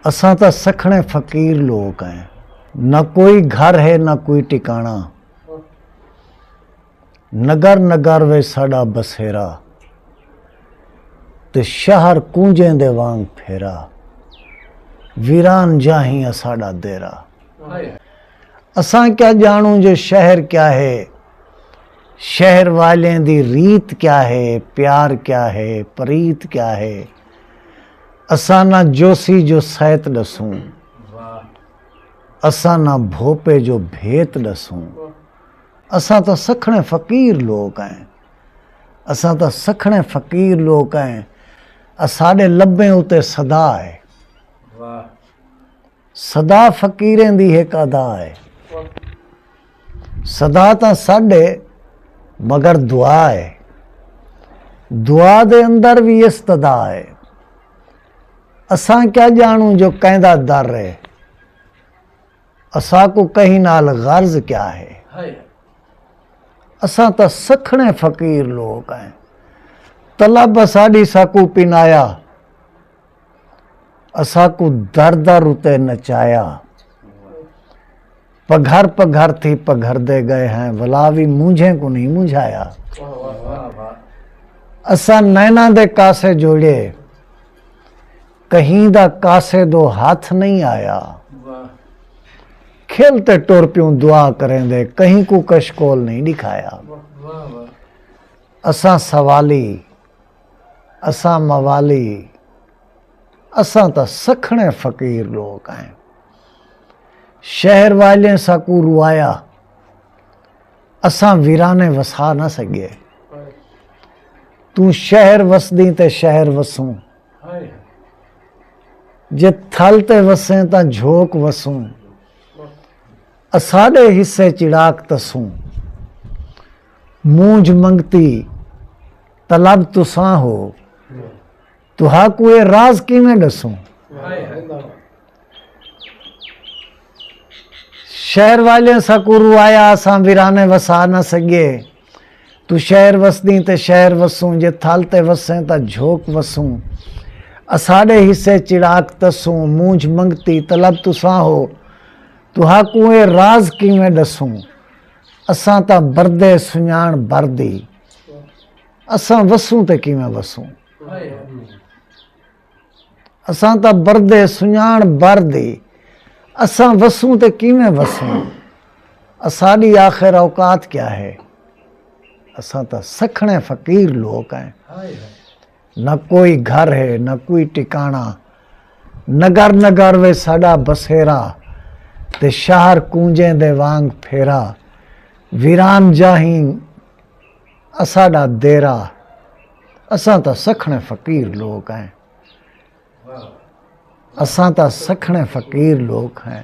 اساں تاں سکھڑیں فقیر لوک ہیں نہ کوئی گھر ہے نہ کوئی ٹکانا نگر نگر وچ ساڈا بسیرا تے شہر کونجیں دے وانگ پھیرا ویران جاہیں اساڈا دیرا اساں کیا جانوں جو شہر کیا ہے شہر والیں دی ریت کیا ہے پیار کیا ہے پریت کیا ہے اساں نہ جوسی جو سیت ݙسوں اساں نہ بھوپے جو بھیت ݙسوں اساں تاں سکھڑیں فقیر لوک ائیں اساں تاں سکھڑیں فقیر لوک ائیں اساݙے لبیں اتے صدا اے صدا فقیریں دی ہک ادا اے صدا تاں سڈ ہے مگر دعا ہے دعا دے اندر بھی استدا ہے اساں کیا جانوں جو کہندا در ہے اساں کو کہیں نال غرض کیا ہے اساں تا سکھنے فقیر لوگ ہیں طلب اساڈی ساکو پنایا اساکوں در در اتے نچایا۔ پگھر پگھر تھی پگھردے گئے ہیں ولا وی مونجھیں کوں نہیں مونجھایا۔ اساں نیناں دے کاسے جوڑے کہیں دا کاسے دو ہتھ نہیں آیا۔ کھل تے ٹر پیوں دعا کریں دے کہیں کوں کشکول نہیں دکھایا۔ اساں سوالی اساں موالی ہی، اساں تاں سکھڑیں فقیر لوک ہئیں۔ شہر والیں ساکوں روایا، اساں ویرانے وسا نہ سگیے۔ توں شہر وسدیں تے شہر وسوں، جے تھل تے وسیں تاں جھوک وسوں۔ اساݙے حصے چڑاک تسوں۔ مونجھ منگتی طلب تساں ہو تہا کو اے راز کیویں ڈسوں شہر والے سکو رو آیا اساں ویرانے وسا نہ سگے تو شہر وسدیں تے شہر وسوں جے تھل تے وسیں تا جھوک وسوں اساڈے حصے چڑاک تسوں مونجھ منگتی طلب تساں ہو تہا کو اے راز کیویں ڈسوں اساں تاں بردے سنڄاݨ بر دی اساں وسوں تے کیویں وسوں اساں تاں بردے سنڄاݨ بر دی اساں وسوں تے کیویں وسوں اساݙی آخر اوقات کیا ہے اساں تاں سکھڑے فقیر لوک ہیں نہ کوئی گھر ہے نہ کوئی ٹکانا نگر نگر وے ساڈا بسیرا تے شہر کونجیں دے وانگ پھیرا ویران جاہیں اساڈا دیرا اساں تاں سکھنے فقیر لوک ہیں اساں تاں سکھنے فقیر لوک ہیں